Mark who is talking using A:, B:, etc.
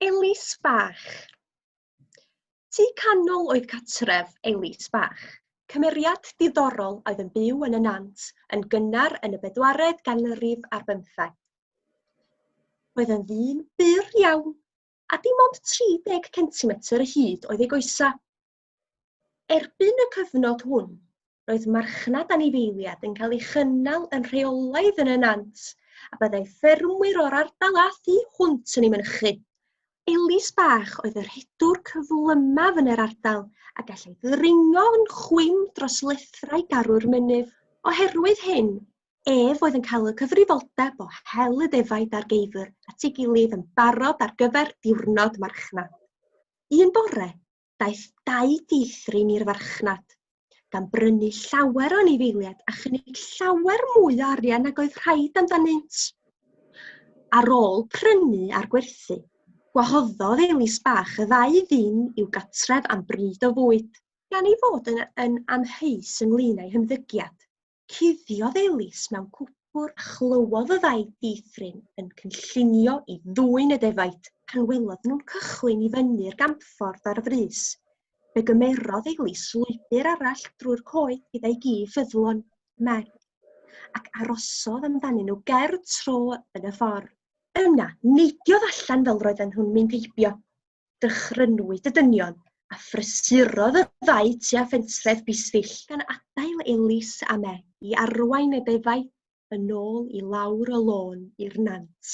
A: Elis Bach. Tu canol oedd catref Elis Bach, cymeriad diddorol oedd yn byw yn y Nant yn gynnar yn y bedwaredd ganrif ar bymtheg. Roedd yn ddyn byr iawn, a dim ond 30 centimetr y hyd oedd ei goesau. Erbyn y cyfnod hwn, roedd marchnad anifeiliaid yn cael ei chynnal yn rheolaidd yn y nant a byddai ffermwyr o'r ardal a thu hwnt yn ei mynychu. Elis Bach oedd y rhedwr cyflymaf yn yr ardal a gallai ddringo yn chwim dros lethrau garw'r mynydd. Oherwydd hyn, ef oedd yn cael y cyfrifoldeb o hel y defaid a'r geifr at ei gilydd yn barod ar gyfer diwrnod marchnad. Un bore, daeth dau feithrin i'r farchnad, gan brynu llawer o anifeiliaid a chynnig llawer mwy o arian nag oedd rhaid amdanynt. Ar ôl prynu a'r gwerthu, gwahoddodd Elis Bach y ddau ddyn i'w gatref am bryd o fwyd. Gan ei fod yn, yn amheus ynglyn â'i hymddygiad, Cuddiodd Elis mewn cwpwr a chlywodd y ddau dieithryn yn cynllunio i ddwyn y defaid. Pan welodd nhw'n cychwyn i fyny'r gampffordd ar frys, fe gymerodd Elis lwybr arall drwy'r coed gyda'i gi ffyddlon, Meg, ac arosodd amdanyn nhw ger tro yn y ffordd. Yna, neidiodd allan fel roedden nhw'n mynd heibio. dychrynwyd y dynion a phrysurodd y ddau tua phentref Bisfill, gan adael Elis a Meg i arwain y defaid yn ôl i lawr y lôn i'r nant.